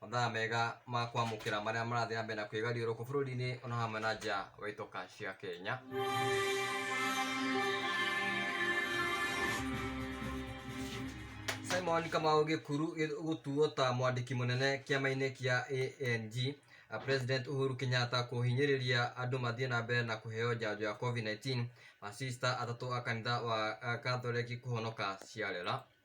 mathaa mega ma kwamũkĩra marĩa marathiĩ na mbere na kwĩgariũrũkũ bũrũri-inĩ ona hamwe na nja wa itoka cia Kenya. Simon Kamau Gĩkuru gĩ- gũtuo ta mwandĩki mũnene kĩama-inĩ kĩa ANG a President Uhuru Kenyatta kũhinyĩrĩria andũ mathiĩ na mbere na kũheo njanjo ya COVID-19 masista atatũ a kanitha wa a Kathoreki kũhonoka ciarera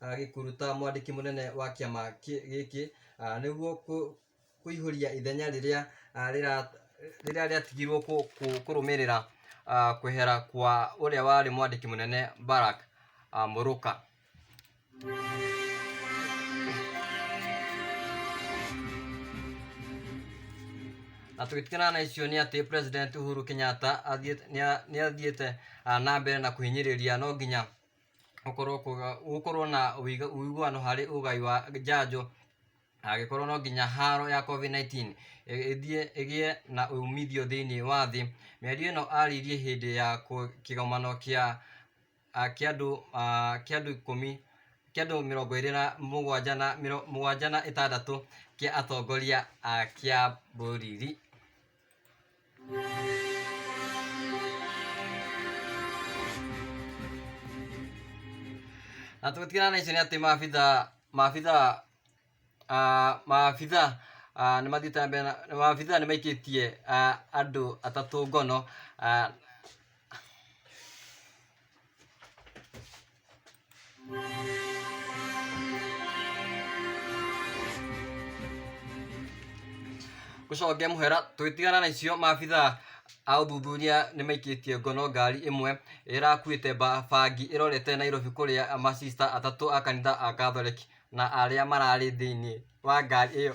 ah, gĩkuru ta mwandĩki mũnene wa kĩama kĩ- gĩkĩ ah, nĩguo kũ- kũihũria ithenya rĩrĩa ah, rĩra- rĩrĩa rĩatigirwo kũ- kũ- kũrũmĩrĩra ah, kwehera kwa ũrĩa warĩ mwandĩki mũnene Barak ah, Mũrũka. na tũgĩtigana na icio nĩ atĩ president uhuru kenyatta athiĩte- nĩa- nĩathiĩte ah, na mbere na kũhinyĩrĩria no nginya gũkorwo kuga gũkorwo na ũiga- ũiguano harĩ ũgai wa njanjo na agĩkorwo no nginya haro ya Covid-19 ĩ- ĩthiĩ ĩgĩe na umithio thĩinĩ wa thĩ. Mĩario ĩno arĩirie hĩndĩ ya kũ- kĩgomano kĩa a, kĩa andũ a, kĩa andũ ikũmi, kĩa andũ mĩrongo ĩrĩ na mũgwanja na mĩro- mũgwanja na ĩtandatũ kĩa atongoria a kĩa bũrũri. Na tũgĩtigana na icio nĩ atĩ maabitha maabitha ah, maabitha ah, nĩ mathiĩte na mbere na maabitha nĩ maikĩtie ah, andũ atatũ ngono ah, gũconge mũhera tũgĩtigana na icio maabitha a ũthuthuria nĩ maikĩtie ngono ngari ĩmwe ĩrakuĩte ba- bangi ĩrorete nairobi kũrĩa masista atatũ a kanitha a catholic na arĩa mararĩ thĩinĩ wa ngari ĩyo